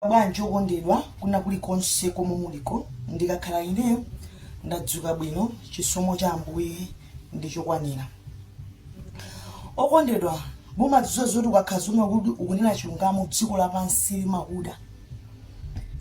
Bwanji okondedwa, kwina kulikonse komwe muliko, ndikakhala ine ndadzuka bwino, chisomo cha Ambuye ndi chokwanira. Okondedwa, mumadziwa zoti ukakhala zomwe ukunena chilungamo, dziko lapansi limakuda,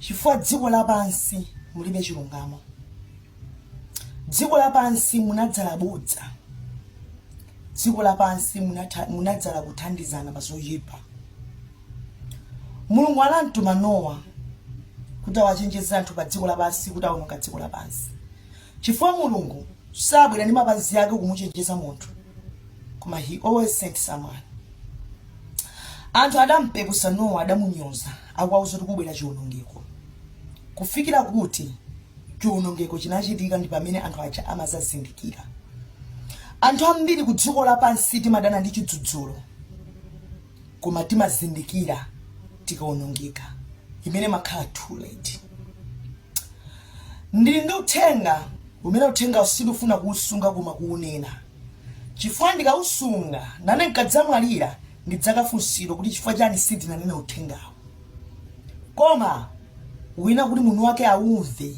chifukwa dziko lapansi mulibe chilungamo. Dziko lapansi munadzala bodza, dziko lapansi munadzala kuthandizana pa zoyipa. Mulungu anamtuma Nowa kuti awachenjeze anthu pa dziko lapansi kuti awononga dziko lapansi, chifukwa Mulungu sabwera ndi mapazi ake kumuchenjeza munthu, koma he always sent someone. Anthu adampepusa Nowa, adamunyoza, akuwauza kuti kukubwera chiwonongeko, kufikira kuti chiwonongeko chinachitika ndi pamene anthu aja amazazindikira. Anthu ambiri ku dziko lapansi timadana ndi chidzudzulo, koma timazindikira tikaonongeka imene imakhala too late ndili ndi uthenga umene uthengawo sindifuna kuusunga koma kuunena chifukwa ndikausunga nane nkadzamwalira ndidzakafunsidwa kuti chifukwa chani sindinanene uthengawo koma ina kuti munthu wake aumve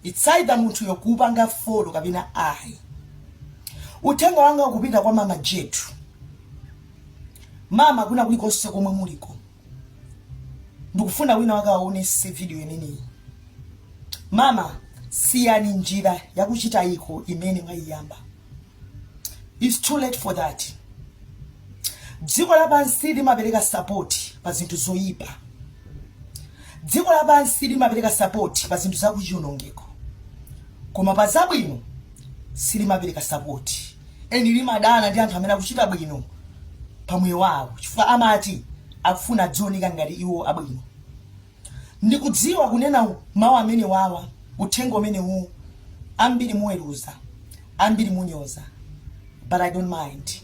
it's either munthuyo kuupanga folo kapena ayi uthenga wanga ukupita kwa mama Jetu mama kwina kulikonse komwe muliko ndikufuna wina wake awaonetse video imeneyi mama siyani njira yakuchitaiko imene mwayiyamba its too late for that dziko lapansi limapereka sapoti pa zinthu zoyipa dziko lapansi limapereka sapoti pa zinthu zakuchiwonongeko koma pa zabwino silimapereka sapoti And limadana ndi anthu amene akuchita bwino pa moyo wawo chifukwa amati akufuna azioneka ngati iwo abwino. Ndikudziwa kunena mawu amenewawa, uthenga umenewu, ambiri muweruza, ambiri munyoza, but I don't mind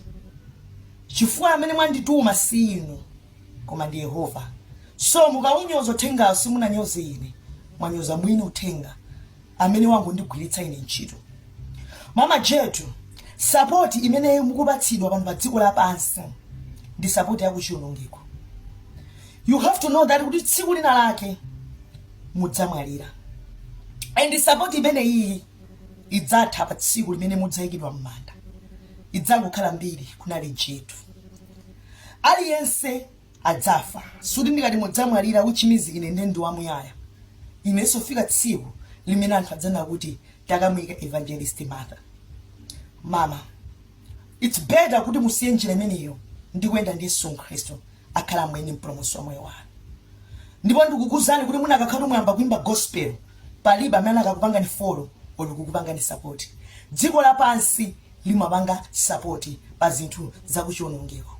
chifukwa amene wandituma si inu. koma ndi Yehova so mukaunyoza uthengawo simunanyoze ine mwanyoza mwini uthenga amene wangondigwiritsa ine ntchito mama Jetu sapoti imene mukupatsidwa pano pa dziko lapansi ndi sapoti yakuchiwonongeko you have to know that kuti tsiku lina lake mudzamwalira and sapoti imene iyi idzatha pa tsiku limene mudzayikidwa m'manda idzangokhala mbiri kunali Jetu aliyense adzafa soti ndikati mudzamwalira which means ine nde ndi wamuyaya inenso lifika tsiku limene anthu adzanena kuti takamuyika evangelist martha mama its better kuti musiye njira imeneyo ndi kuyenda ndi yesu khristu akhale mwini mpulumutsi wa moyo wanu ndipo ndikukuuzani kuti munakakhala mwayamba kuimba gospel palibe amene akanakupangani folo olo kukupangani sapoti dziko lapansi limapanga sapoti pa zinthu za kuchiwonongeko.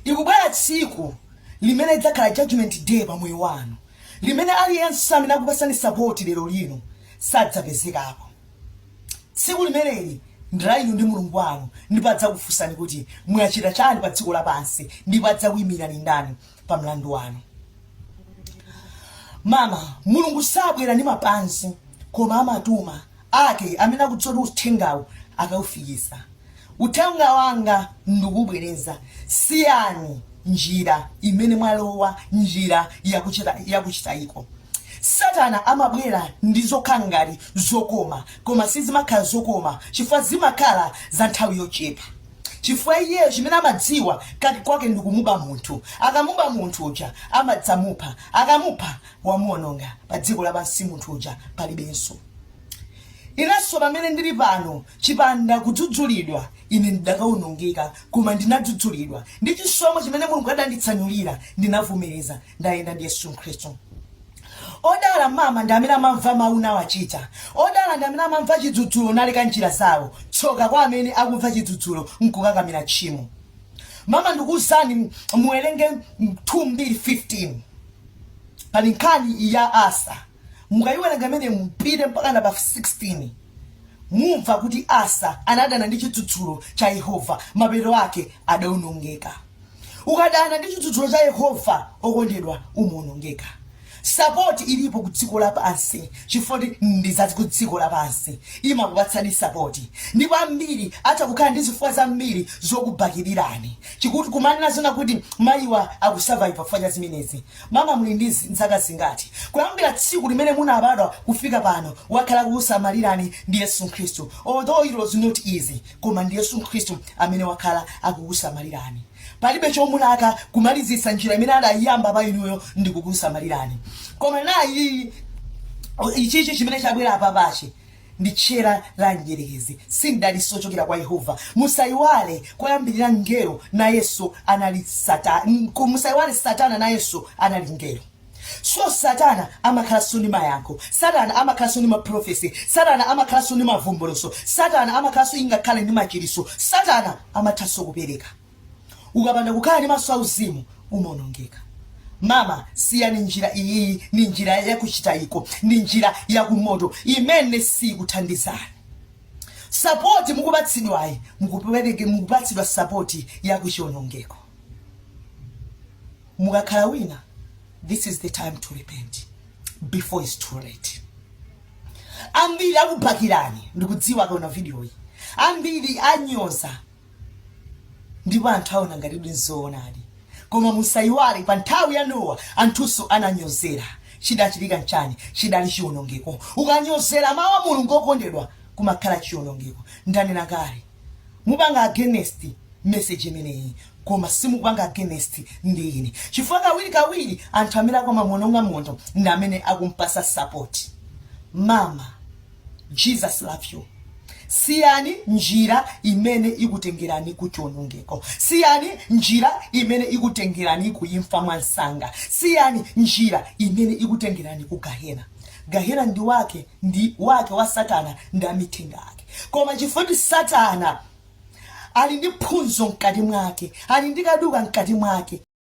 Likubwera tsiku limene lidzakhala judgment day pa moyo wanu, limene aliyense amene akupasani sapoti lero lino sadzapezekapo. Tsiku limeneli ndi la inu ndi Mulungu wanu, ndipo adzakufunsani kuti mwachita chani pa dziko lapansi, ndipo adzakuyimirani ndani pa mlandu wanu. Mama, Mulungu sabwera ndi mapazi, koma amatuma ake amene akudziwa kuti uthengawu akaufikisa. Uthenga wanga ndikubwereza siyani njira imene mwalowa njira yakuchita yakuchitayiko. Satana amabwera ndi zokhala ngati zokoma koma sizimakhala zokoma chifukwa zimakhala za nthawi yochepa chifukwa iyeyo chimene amadziwa kati kwake ndikumuba munthu akamuba munthu uja amadzamupha akamupha wamuononga pa dziko lapansi munthu uja palibenso inenso pamene ndili pano chipanda kudzudzulidwa ine ndidakaonongeka koma ndinadzudzulidwa ndi chisomo chimene mulungu adanditsanulira ndinavomereza ndayenda ndi yesu khristu odala mama ndi amene amamva mawu nawachita odala ndi amene amamva chidzudzulo naleka njira zawo tsoka kwa amene akumva chidzudzulo nkukakamira tchimo mama ndikuwuzani muwerenge 2 mbiri 15 pali nkhani ya Asa mukayiwerenga imene mupite mpakana pa 16 mumva kuti Asa anadana ndi chidzudzulo cha Yehova mapeto ake adaonongeka. Ukadana ndi chidzudzulo cha Yehova okondedwa umaonongeka. Support ilipo ku dziko lapansi chifukwa ndi za ku dziko lapansi imakupatsani support ndipo ambiri atha kukhala ndi zifukwa zambiri zokubakilirani. kuti kumanena zonena kuti mayiwa akusurvive chifukwa cha zimenezi mama muli ndi zi- zaka zingati kuyambira tsiku limene munabadwa kufika pano wakhala akukusamalirani ndi yesu khristu although it was not easy koma ndi yesu khristu amene wakhala akukusamalirani palibe chomulaka kumalizitsa njira imene adayiyamba pa inuyo ndi kukusamalirani koma nayi ichichi chimene chabwera apapachi ndi tchera la mdyerekezi si mdalitso wochokera kwa Yehova. Musaiwale koyambirira mngelo nayenso anali satana, musaiwale satana nayenso anali mngelo. So satana amakhalanso ndi mayankho, satana amakhalanso ndi maprofesi, satana amakhalanso ndi mavumbulutso, satana amakhalanso ingakhale ndi machiritso, satana amathanso kupereka. ukapanda kukhala ndi maso auzimu umaonongeka mama siyani njira iyiyi ni njira yakuchitayiko ni njira yakumoto imene sikuthandizani sapoti mukupatsidwayi mukupatsidwa sapoti yakuchionongeko mukakhala wina this is the time to repent before it's too late ambiri akubhakirani ndikudziwa akaona vidiyoyi ambiri anyoza ndipo anthu aona ngatidi nzoonadi koma musayiwale pa nthawi ya nowa anthunso ananyozera chidachitika nchani chidali chiwonongeko ukanyozera mawu a mulungu okondedwa kumakhala chiwonongeko ndanena kale mupanga against message imeneyi koma simupanga against ndi ine chifukwa kawiri kawiri anthu amene akumamuononga munthu ndi amene akumpasa support mama Jesus love you. siyani njira imene ikutengerani ku chionongeko siyani njira imene ikutengerani ku imfa mwansanga siyani njira imene ikutengerani ku gahena gahena ndi wake ndi wake wa satana ndi amithenga ake koma chifukwa kuti satana ali ndi chizunzo mkati mwake ali ndi kaduka mkati mwake